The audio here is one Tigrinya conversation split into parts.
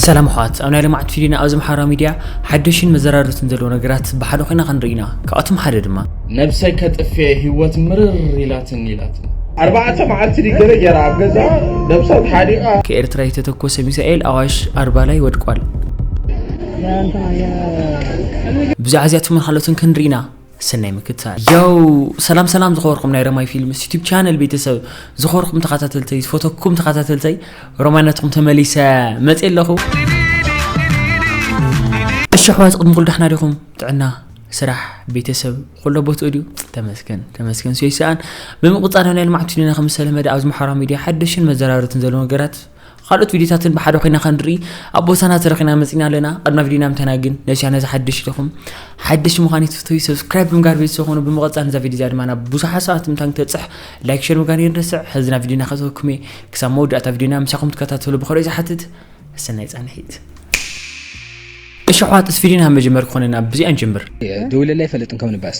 ሰላም ኣሕዋት ኣብ ናይ ሎማዕንቲ ቪድዮና ኣብዚ ኣምሓራ ሚድያ ሓደሽን መዘራረብትን ዘለዉ ነገራት ብሓደ ኮይና ክንርኢ ኢና ካብኣቶም ሓደ ድማ። ነብሰይ ከጥፌ ሂወት ምርር ኢላትኒ ኢላትኒ። ኣርባዕተ መዓልቲ ድዩ ገለ ጌራ ኣብ ገዝኣ ነብሳ ተሓኒቃ። ከኤርትራ የተተኮሰ ሚሳኤል ኣዋሽ ኣርባ ላይ ወድቋል። ብዛዕባ እዚኣቶምን ካልኦትን ክንርኢ ኢና። ስናይ ምክትታል ያው ሰላም ሰላም ዝኸበርኩም ናይ ረማይ ፊልምስ ዩቲብ ቻነል ቤተሰብ ዝኸበርኩም ተኸታተልተይ ዝፈተኩም ተኸታተልተይ ሮማይነትኩም ተመሊሰ መፅ ኣለኹ እሺ ኣሕዋት ቅድሚ ኩሉ ዳሕና ዲኹም ጥዕና ስራሕ ቤተሰብ ኩሎ ቦትኡ ድዩ ተመስገን ተመስገን ስዮይ ሰኣን ብምቕፃል ናይ ልምዓት ዩኒና ከም ዝተለመደ ኣብዚ ማሕበራዊ ሚድያ ሓደሽን መዘራረትን ዘሎ ነገራት ኻልኦት ቪድዮታትን ብሓደ ኮይና ከንርኢ ኣብ ቦታና ተረኺና መጺና ኣለና ቅድመ ቪድዮና ምተና ግን ነዚ ቻነል እዚ ሓድሽ ኢኹም ሓድሽ ምዃን ይትፍትዩ ሰብስክራይብ ብምጋር ቤተሰብ ኾኑ ብምቐጻል ነዛ ቪድዮ እዚኣ ድማ ናብ ብዙሓት ሰባት ምታን ክተጽሕ ላይክ ሸር ምጋር ይንረስዕ ሕዚ ናብ ቪድዮና ከተወኩም እየ ክሳብ መወዳእታ ቪድዮና ምሳኹም ትከታተሉ ብኸሪኦ ዝሓትት ሰናይ ጻንሒት እሺ ኣሕዋት እስፊድዮና መጀመር ክኾነና ብዚኣ ንጀምር ደውለላ ይፈልጥን ከም ንባስ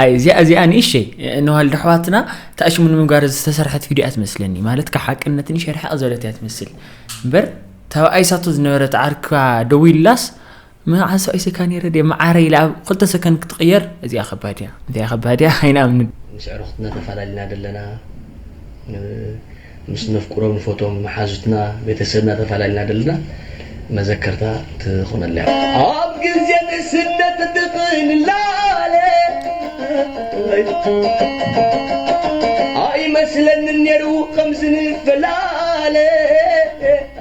ኣይ እዚኣ እዚኣ ንእሸይ ንዋልድ ኣሕዋትና ተኣሽሙ ንምግባር ዝተሰርሐት ቪድዮ እያ ትመስለኒ ማለት ካብ ሓቅነት ንእሸ ርሕቕ ዘለት እያ ትመስል እምበር ተባኣይ ሳቶ ዝነበረት ዓርካ ደው ኢላስ መዓዝ ሰብኣይ ሰካ ነረ ደ መዓረ ኢላ ኣብ ክልተ ሰከንድ ክትቕየር እዚኣ ከባድ እያ እንታይ ከባድ እያ ኣይንኣምንን ምስ ዕሩኽትና ተፈላለና ደለና ምስ ነፍቅሮም ንፈትዎም መሓዙትና ቤተሰብና ተፋላሊና ደለና መዘከርታ ትኹነልና እያ። ኣብ ግዜ ንእስነት ድቂ ንላለ ኣይመስለንን ኔሩ ከምዚ ንፈላለ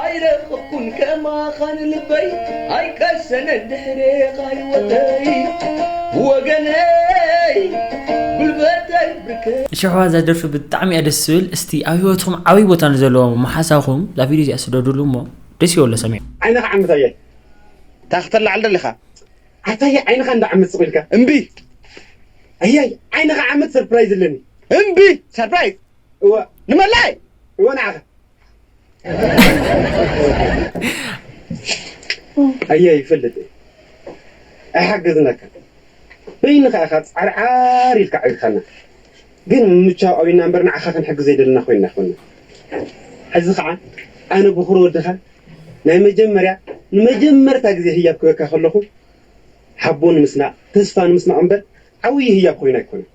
ኣይረኸብኩን ከማኻ ንልበይ ኣይቀሰነን ድሕሬኻ ሂወተይ ወገነይ ጉልበተይ ብርከይ። እሽሕዋ እዛ ደርፊ ብጣዕሚ እያ ደስ ትብል እስቲ ኣብ ሂወትኩም ዓብይ ቦታ ንዘለዎ መሓሳኹም እዛ ቪድዮ እዚኣ ስደድሉ እሞ ደስ ይበሎ ሰሚዑ። ዓይንኻ ዓምት ኣየ ታይ ክተላዕል ደሊኻ ኣታየ ዓይንኻ እንዳ ዓምት ስቕ ኢልካ እምቢ ኣያይ ዓይንኻ ዓምት ሰርፕራይዝ ኣለኒ እምቢ ሰርፕራይዝ እወ ንመላይ እወ ንዓኻ ኣየ ይፈልጥ እየ ኣይሓገዝናካን በይንኻ ኢኻ ፃርዓር ኢልካ ኣዕቢኻና ግን ምምቻው ኣብይና እምበር ንዓኻ ክንሕግዝ ዘይደለና ኮይንና ኣይኮንናን ሕዚ ከዓ ኣነ ብኹር ወድኻ ናይ መጀመርያ ንመጀመርታ ግዜ ህያብ ክበካ ከለኹ ሓቦ ንምስናቕ ተስፋ ንምስናቕ እምበር ዓብይ ህያብ ኮይኑ ኣይኮነን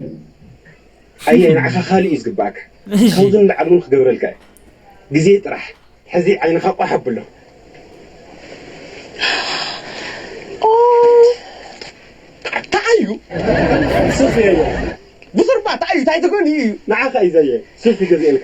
ኣየ ንዓኻ ካልእ እዩ ዝግበኣካ ካብዚ ንላዕሊ ውን ክገብረልካ እየ ግዜ ጥራሕ ሕዚ ዓይንኻ ቋሕ ኣብሎ። ተዓዩ ሱፍ የየ ብኹርባ ተዓዩ ታይ ትኮን እዩ። ንዓኻ እዩ ዘየ ሱፍ ይገዝኤልካ።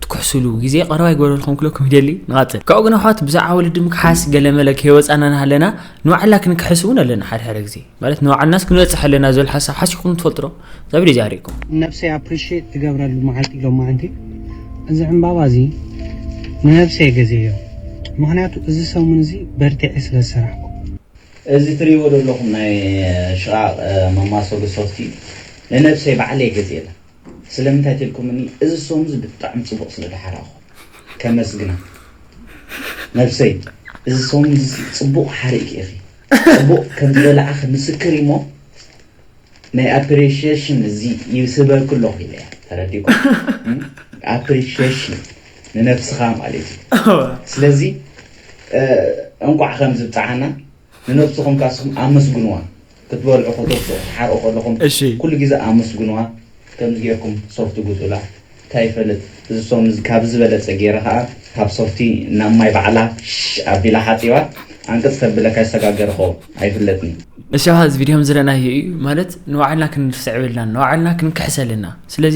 ትኩሕሱሉ ግዜ ቀረባ ይግበረልኩም ክብለኩም ይደሊ ንቐጽል ካብኡ ግን ኣሕዋት ብዛዕባ ወለዲ ምክሓስ ገለመለ ከይወጻና ናሃለና ንባዕልና ክንክሕስ እውን ኣለና ሓደ ሓደ ግዜ ማለት ንባዕልናስ ክንበጽሕ ኣለና ዝብል ሓሳብ ሓሲብኩም ትፈልጡ ዶ ዛብ ደይ ዛሪብኩም ነብሰይ ኣፕሪሽት ትገብረሉ መዓልቲ ሎማዓንቲ እዚ ዕምባባ እዚ ንነብሰይ ገዜዮ ምክንያቱ እዚ ሰሙን እዚ በርቲዐ ስለ ዝሰራሕኩ። እዚ ትሪእዎ ዘለኹም ናይ ሽቓቕ መማሰሉ ሶፍቲ ንነብሰይ ባዕለይ ገዚኤላ። ስለምንታይ ተልኩምኒ እዚ ሶም እዚ ብጣዕሚ ጽቡቅ ስለ ድሓራኩ ከመስግና ነብሰይ እዚ ሶም እዚ ጽቡቅ ሓሪኪ ኢኪ ጽቡቅ ከም ዝበላዕኪ ምስክር ኢሞ ናይ ኣፕሪሸሽን እዚ ይስበርኪ ኣሎኩ ኢለያ ተረዲኩም ኣፕሪሸሽን ንነብስካ ማለት ኢዩ ስለዚ እንቋዕ ከምዚ ብጻዓና። ንነብስኹም ካስኹም ኣመስግንዋ ክትበልዑ ከተብስዑ ክትሓርቁ ከለኹም እሺ። ኩሉ ግዜ ኣመስግንዋ ከምዚ ጌርኩም ሶፍቲ ግጹላ ታይ ይፈልጥ እዚ ሶም እዚ ካብዚ ዝበለጸ ጌረ ከኣ ካብ ሶፍቲ ናብ ማይ ባዕላ ሽሽ ኣቢላ ሓጺባ ኣንቅጽ ተብለካ ይሰጋገርኮ ኣይፍለጥን። እሺ ኣሃ እዚ ቪድዮ ከምዝረእናዮ እዩ ማለት ንባዕልና ክንርስዕ የብልናን ንባዕልና ክንክሕስ ኣለና ስለዚ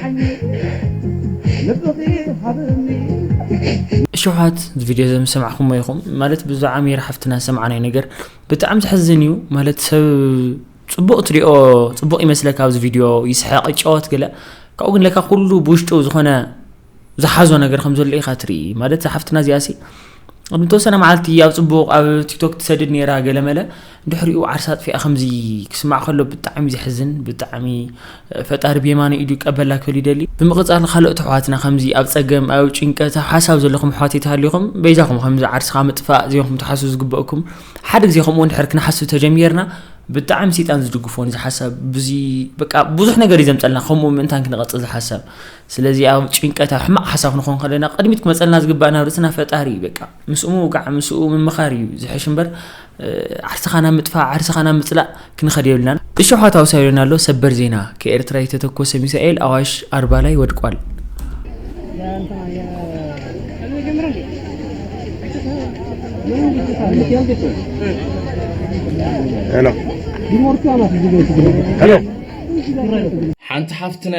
እሹሓት እዚ ቪድዮ እዚ ምስ ሰማዕኩሞ ኢኹም ማለት ብዛዕባ ሜሪ ሓፍትና ዝሰማዕናዮ ነገር ብጣዕሚ ዘሕዝን እዩ ማለት ሰብ ፅቡቅ ትሪኦ ፅቡቅ ይመስለካ ኣብዚ ቪድዮ ይስሐቅ ይጫወት ገለ ካብኡ ግን ለካ ኩሉ ብውሽጡ ዝኾነ ዝሓዞ ነገር ከም ዘሎ ኢኻ ትርኢ ማለት ሓፍትና እዚኣሲ ኣብ ንተወሰነ መዓልቲ ኣብ ጽቡቕ ኣብ ቲክቶክ ትሰድድ ነይራ ገለመለ ድሕሪኡ ዓርሳ ኣጥፊኣ ከምዚ ክስማዕ ከሎ ብጣዕሚ ዘሕዝን ብጣዕሚ ፈጣሪ ብየማነ ኢዱ ቀበላ ክብል ይደሊ ብምቕጻል ካልኦት ኣሕዋትና ከምዚ ኣብ ጸገም ኣብ ጭንቀት ኣብ ሓሳብ ዘለኹም ኣሕዋት ይተሃልኹም በይዛኹም ከምዚ ዓርስኻ ምጥፋእ ዜኹም ትሓስቡ ዝግበእኩም ሓደ ግዜ ከምኡ እንድሕር ክንሓስብ ተጀሚርና ብጣዕሚ ሰይጣን ዝድግፎን ዝሓሳብ ብዙ በቃ ብዙሕ ነገር እዩ ዘምጸልና ከምኡ ምእንታን ክንቐጽል ዝሓሳብ ስለዚ ኣብ ጭንቀት ኣብ ሕማቅ ሓሳብ ንኾን ከለና ቅድሚት ክመጸልና ዝግባእ ናብ ርእስና ፈጣሪ እዩ በቃ ምስኡ ምውቃዕ ምስኡ ምምኻር እዩ ዝሕሽ እምበር ዓርስኻ ናብ ምጥፋእ ዓርስኻ ናብ ምጽላእ ክንኸድ የብልናን። እሾሓት ኣውሳዩን ኣሎ ሰበር ዜና ከኤርትራ የተተኮሰ ሚሳኤል ኣዋሽ ኣርባ ላይ ወድቋል። ሓንቲ ሓፍትና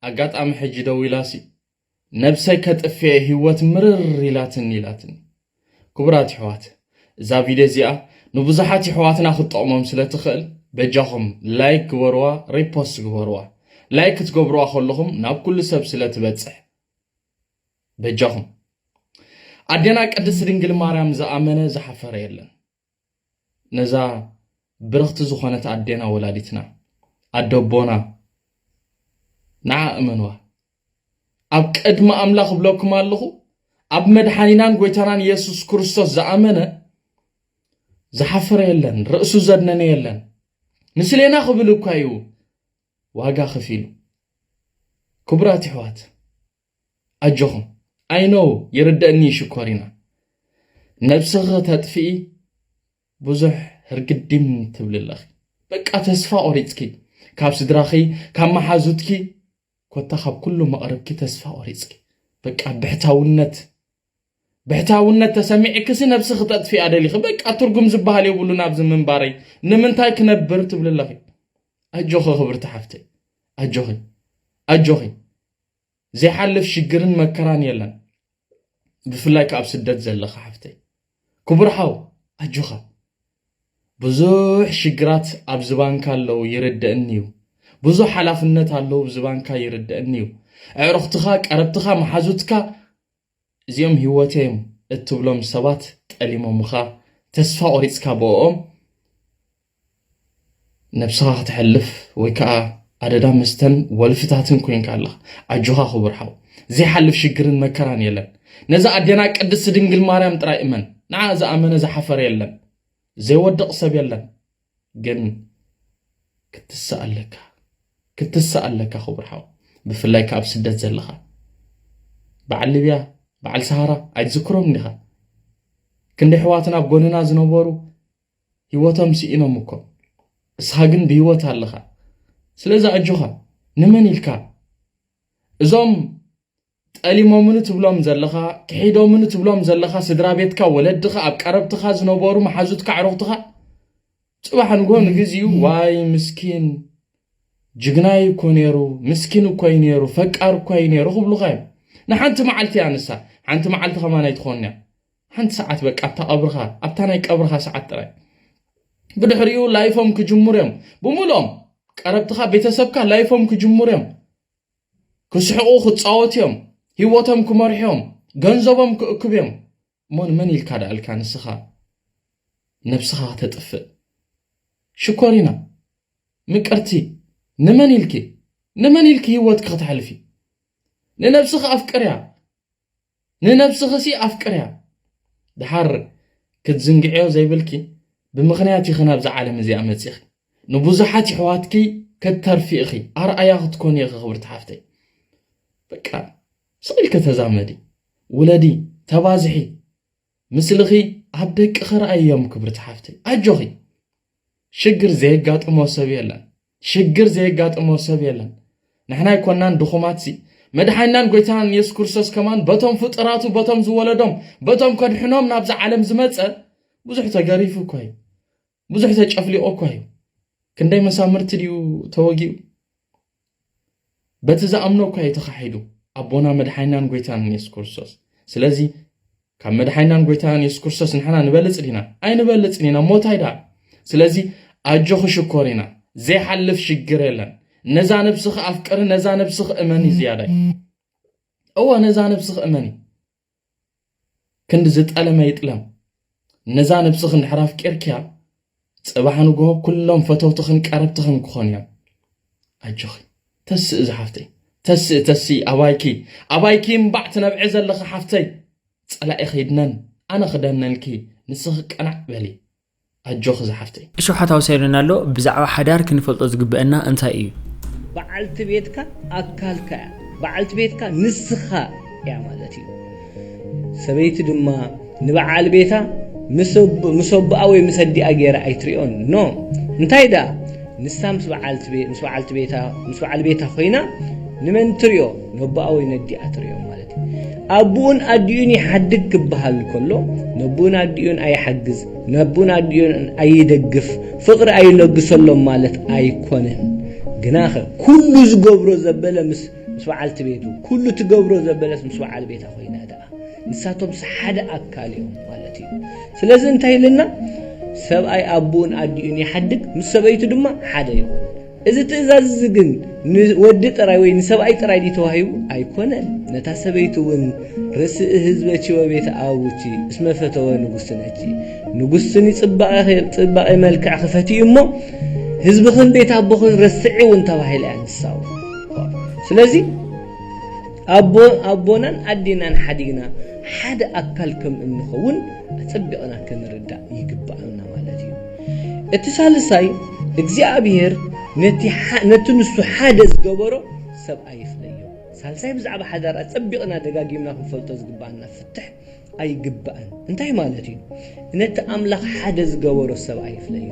ኣጋጣሚ ሕጂ ደዊላሲ ነብሰይ ከጥፌ ሂወት ምርር ኢላትኒ ኢላትኒ ክቡራት ይሕዋት እዛ ቪድዮ እዚኣ ንብዙሓት ይሕዋትና ክትጠቕሞም ስለ ትኽእል በጃኹም ላይክ ግበርዋ ሪፖስት ግበርዋ ላይክ ክትገብርዋ ከለኹም ናብ ኩሉ ሰብ ስለ ትበጽሕ በጃኹም ኣዴና ቅድስቲ ድንግል ማርያም ዝኣመነ ዝሓፈረ የለን ነዛ ብርኽቲ ዝኾነት ኣዴና ወላዲትና ኣደቦና ንዓ እመንዋ ኣብ ቅድሚ ኣምላኽ እብለኩም ኣለኹ ኣብ መድሓኒናን ጎይታናን ኢየሱስ ክርስቶስ ዝኣመነ ዝሓፈረ የለን ርእሱ ዘድነነ የለን ምስሌና ክብል እኳ እዩ ዋጋ ከፊሉ ክቡራት ይሕዋት ኣጆኹም ኣይ ኖው ይርደእኒ ዩ ሽኮሪና ነብስኺ ተጥፍኢ ብዙሕ ህርግዲም ትብሊ ኣለኺ በቃ ተስፋ ቆሪጽኪ ካብ ስድራኺ ካብ መሓዙትኪ ኮታ ካብ ኩሉ መቕርብኪ ተስፋ ቆሪጽኪ በቃ ብሕታውነት ብሕታውነት ተሰሚዕክሲ ነብስኺ ተጥፍያ ደሊኺ በቃ ትርጉም ዝበሃል የብሉን ኣብዚ ምንባረይ ንምንታይ ክነብር ትብሊ ኣለኺ ኣጆኺ ክብርቲ ሓፍተይ ኣጆኺ ኣጆኺ ዘይሓልፍ ሽግርን መከራን የለን ብፍላይ ከኣ ኣብ ስደት ዘለኻ ሓፍተይ ክቡር ሓው ኣጆኻ ብዙሕ ሽግራት ኣብ ዝባንካ ኣለው ይርደእኒ እዩ ብዙሕ ሓላፍነት ኣለው ዝባንካ ይርደእኒ እዩ ኣዕሩኽትኻ ቀረብትኻ መሓዙትካ እዚኦም ህይወተይ'ዮም እትብሎም ሰባት ጠሊሞምኻ፣ ተስፋ ቆሪጽካ ብእኦም ነብስኻ ከተሕልፍ ወይ ከኣ ኣደዳ መስተን ወልፍታትን ኮይንካ ኣለኻ። ኣጆኻ ክቡር ሓው፣ ዘይሓልፍ ሽግርን መከራን የለን። ነዛ ኣዴና ቅድስቲ ድንግል ማርያም ጥራይ እመን፣ ንዓ ዝኣመነ ዝሓፈረ የለን፣ ዘይወድቕ ሰብ የለን። ግን ክትስእ ኣለካ ክትስእ ኣለካ ክቡር ሓው ብፍላይ ካብ ስደት ዘለኻ በዓል ሊብያ በዓል ሰሃራ ኣይትዝክሮም ዲኻ ክንዲ ኣሕዋትና ኣብ ጎንና ዝነበሩ ህይወቶም ስኢኖም እኮ እስኻ ግን ብህይወት ኣለኻ ስለዚ ኣጆኻ ንመን ኢልካ እዞም ጠሊሞምኒ ትብሎም ዘለኻ፣ ክሒዶምኒ ትብሎም ዘለኻ ስድራቤትካ፣ ወለድኻ፣ ኣብ ቀረብትኻ ዝነበሩ መሓዙትካ፣ ኣዕሩኽትኻ፣ ጽባሕ ንግሆ ንግዚኡ ዋይ ምስኪን ጅግናይ እኮ ነይሩ፣ ምስኪን እኮ እዩ ነይሩ፣ ፈቃር እኮ እዩ ነይሩ ክብሉኻ እዮም። ንሓንቲ መዓልቲ እያ ንሳ፣ ሓንቲ መዓልቲ ከማን ኣይትኾንን እያ። ሓንቲ ሰዓት በቃ ኣብታ ቀብርኻ፣ ኣብታ ናይ ቀብርኻ ሰዓት ጥራይ። ብድሕሪኡ ላይፎም ክጅምሩ እዮም ብምልኦም ቀረብትኻ ቤተሰብካ ላይፎም ክጅምሩ እዮም ክስሕቑ ክጻወቱ እዮም ሂወቶም ክመርሑ እዮም ገንዘቦም ክእክቡ እዮም እሞ ንመን ኢልካ ደኣልካ ንስኻ ነብስኻ ክተጥፍእ ሽኮሪና ምቅርቲ ንመን ኢልኪ ንመን ኢልኪ ሂወትኪ ክተሕልፊ ንነብስኺ ኣፍቅርያ ንነብስኽሲ ኣፍቅርያ ድሓር ክትዝንግዕዮ ዘይብልኪ ብምኽንያት ኢኺ ናብዛ ዓለም እዚኣ መጺኺ ንቡዙሓት የሕዋትኪ ከተርፊ ኢኺ ኣርኣያ ክትኮኒ ኢኺ ክብርቲ ሓፍተይ በቃ ስቅ ኢልኪ ተዛመዲ ውለዲ ተባዝሒ ምስልኺ ኣብ ደቅኺ ረኣይዮም ክብርቲ ሓፍተይ ኣጆኺ ሽግር ዘየጋጥሞ ሰብ የለን ሽግር ዘየጋጥሞ ሰብ የለን ንሕና ኣይኮናን ድኹማት ሲ መድሓኒናን ጎይታን የሱስ ክርስቶስ ከማን በቶም ፍጡራቱ በቶም ዝወለዶም በቶም ከድሕኖም ናብዚ ዓለም ዝመፀ ብዙሕ ተገሪፉ እኮ እዩ ብዙሕ ተጨፍሊቑ እኳ እዩ። ክንደይ መሳምርቲ ድዩ ተወጊኡ? በቲ ዝኣምኖ እኳ እዩ ተኻሒዱ። ኣቦና መድሓይናን ጎይታን የሱስ ክርስቶስ። ስለዚ ካብ መድሓይናን ጎይታን የሱስ ክርስቶስ ንሕና ንበልጽ ዲና? ኣይንበልጽን ኢና። ሞታይ ደኣ? ስለዚ ኣጆኺ ሽኮሪና፣ ዘይሓልፍ ሽግር የለን። ነዛ ነብስኺ ኣፍቅሪ፣ ነዛ ነብስኺ እመኒ ዝያዳይ። እወ ነዛ ነብስኺ እመኒ። ክንዲ ዝጠለመ ይጥለም ነዛ ነብስኽን ድሕር ኣፍቂርክያ ጽባሕ ንግሆ ኩሎም ፈተውትኽን ቀረብትኽን ክኾኑ እዮም ኣጆኺ ተስእ ዝሓፍተይ ተስእ ተስእ ኣባይኪ ኣባይኪ እምባዕ ትነብዒ ዘለኺ ሓፍተይ ጸላኢ ኺድነን ኣነ ክደነንኪ ንስኺ ቀናዕ በሊ ኣጆኺ ዝሓፍተይ። እሾሓት ኣውሰልና ኣሎ ብዛዕባ ሓዳር ክንፈልጦ ዝግበእና እንታይ እዩ? በዓልቲ ቤትካ ኣካልካ እያ። በዓልቲ ቤትካ ንስኻ እያ ማለት እዩ። ሰበይቲ ድማ ንበዓል ቤታ ምስ ኣቦኣ ወይ ምስ ኣዲኣ ገይራ ኣይትሪኦን። ን እንታይ ደኣ ንሳ ምስ በዓልቲ ቤታ ምስ በዓል ቤታ ኮይና ንመን ትሪኦ ነቦኣ ወይ ነዲኣ ትሪኦ ማለት እዩ። ኣቡኡን ኣዲኡን ይሓድግ ክበሃል ከሎ ነቡኡን ኣዲኡን ኣይሓግዝ ነቡኡን ኣዲኡን ኣይደግፍ ፍቕሪ ኣይለግሰሎም ማለት ኣይኮነን ግናኸ ኩሉ ዝገብሮ ዘበለ ምስ ምስ በዓልቲ ቤቱ ኩሉ ትገብሮ ዘበለስ ምስ በዓል ቤታ ኮይና ደኣ ንሳቶም ሓደ ኣካል እዮም ማለት እዩ ስለዚ እንታይ ኢልና ሰብኣይ ኣቦኡን ኣዲኡን ይሓድግ ምስ ሰበይቱ ድማ ሓደ ይኹን እዚ ትእዛዝ እዚ ግን ንወዲ ጥራይ ወይ ንሰብኣይ ጥራይ ድዩ ተዋሂቡ? ኣይኮነን፣ ነታ ሰበይቲ እውን ርእሲ ህዝበኪ ወቤተ ኣቡኪ እስመ ፈተወ ንጉሥነኪ፣ ንጉሥኪ ንጽባቐ መልክዕኪ ፈትዩ እሞ ህዝብኽን ቤት ኣቦኽን ረስዒ እውን ተባሂላ እያ ንሳ እውን። ስለዚ ኣቦናን ኣዴናን ሓዲግና ሓደ ኣካል ከም እንኸውን ኣጸቢቕና ክንርዳእ ይግባእ። እቲ ሳልሳይ እግዚኣብሔር ነቲ ንሱ ሓደ ዝገበሮ ሰብኣይ ይፍለዮ። ሳልሳይ ብዛዕባ ሓዳር ኣጸቢቕና ደጋጊምና ክንፈልጦ ዝግብኣና ፍትሕ ኣይግባእን እንታይ ማለት እዩ? ነቲ ኣምላኽ ሓደ ዝገበሮ ሰብኣይ ይፍለዮ።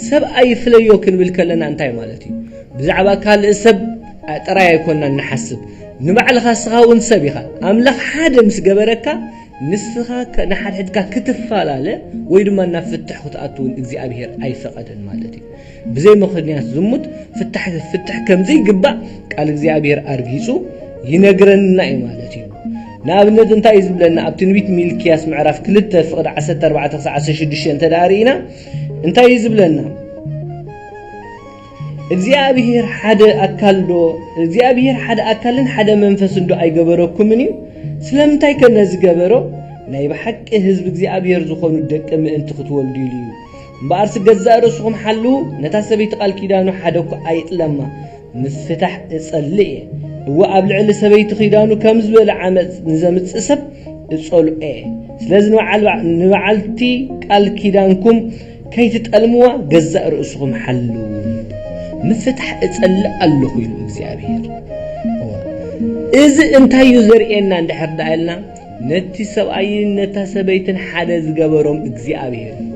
ሰብኣይ ይፍለዮ ክንብል ከለና እንታይ ማለት እዩ? ብዛዕባ ካልእ ሰብ ጥራይ ኣይኮናን ንሓስብ ንባዕልኻ ስኻ እውን ሰብ ኢኻ ኣምላኽ ሓደ ምስ ገበረካ ንስኻ ንሓድሕድካ ክትፋላለ ወይ ድማ ናብ ፍትሕ ክትኣቱ እውን እግዚኣብሄር ኣይፈቐደን ማለት እዩ። ብዘይ ምኽንያት ዝሙት ፍታሕ ክፍትሕ ከም ዘይግባእ ቃል እግዚኣብሄር ኣርጊጹ ይነግረና እዩ ማለት እዩ። ንኣብነት እንታይ እዩ ዝብለና ኣብ ትንቢት ሚልክያስ ምዕራፍ ክልተ ፍቕዲ ዓሰርተ ኣርባዕተ ክሳዕ ዓሰርተ ሽዱሽተ እንተ ደኣ ርኢና እንታይ እዩ ዝብለና? እግዚኣብሄር ሓደ ኣካል ዶ እግዚኣብሄር ሓደ ኣካልን ሓደ መንፈስን ዶ ኣይገበረኩምን እዩ? ስለምንታይ ከ ነዚ ገበሮ? ናይ ብሓቂ ህዝቢ እግዚኣብሄር ዝኾኑ ደቂ ምእንቲ ክትወልዱ ኢሉ እዩ። እምበኣርሲ ገዛእ ርእስኹም ሓልዉ፣ ነታ ሰበይቲ ቃል ኪዳኑ ሓደ እኳ ኣይጥለማ። ምፍታሕ እጸልእ እየ። እወ ኣብ ልዕሊ ሰበይቲ ኺዳኑ ከም ዝበለ ዓመፅ ንዘምፅእ ሰብ እጸልኦ እየ። ስለዚ ንበዓልቲ ቃል ኪዳንኩም ከይትጠልምዋ ገዛእ ርእስኹም ሓልዉ ምፍታሕ እጸልእ ኣለኹ ኢሉ እግዚኣብሄር። እዚ እንታይ እዩ ዘርእየና እንድሕር ደኣ ኢልና ነቲ ሰብኣይን ነታ ሰበይትን ሓደ ዝገበሮም እግዚኣብሄር እዩ።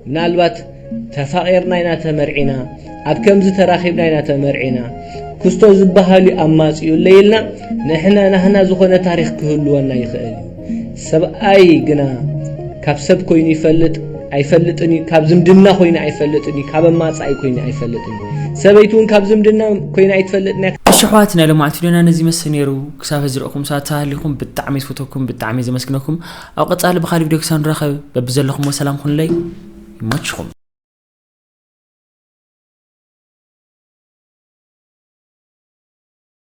ምናልባት ተፋቒርና ኢና ተመርዒና ኣብ ከምዚ ተራኺብና ኢና ተመርዒና ክስቶ ዝበሃሉ ኣማጽኡለይ ኢልና ንሕና ናህና ዝኾነ ታሪኽ ክህልወና ይኽእል እዩ። ሰብኣይ ግና ካብ ሰብ ኮይኑ ይፈልጥ ኣይፈልጥን እዩ ካብ ዝምድና ኮይኑ ኣይፈልጥን እዩ ካብ ኣማፃኢ ኮይኑ ኣይፈልጥን ሰበይቲ እውን ካብ ዝምድና ኮይና ኣይትፈልጥን እያ እሺ ኣሕዋት ናይ ሎማዕቲ ዶና ነዚ ይመስል ነይሩ ክሳብ ህዚ ርኢኹም ሳት ሃሊኹም ብጣዕሚ ዝፈተኩም ብጣዕሚ ዘመስግነኩም ኣብ ቀፃሊ ብካሊ ቪድዮ ክሳብ ንራኸብ በብዘለኹሞ ሰላም ኩንለይ ይመችኹም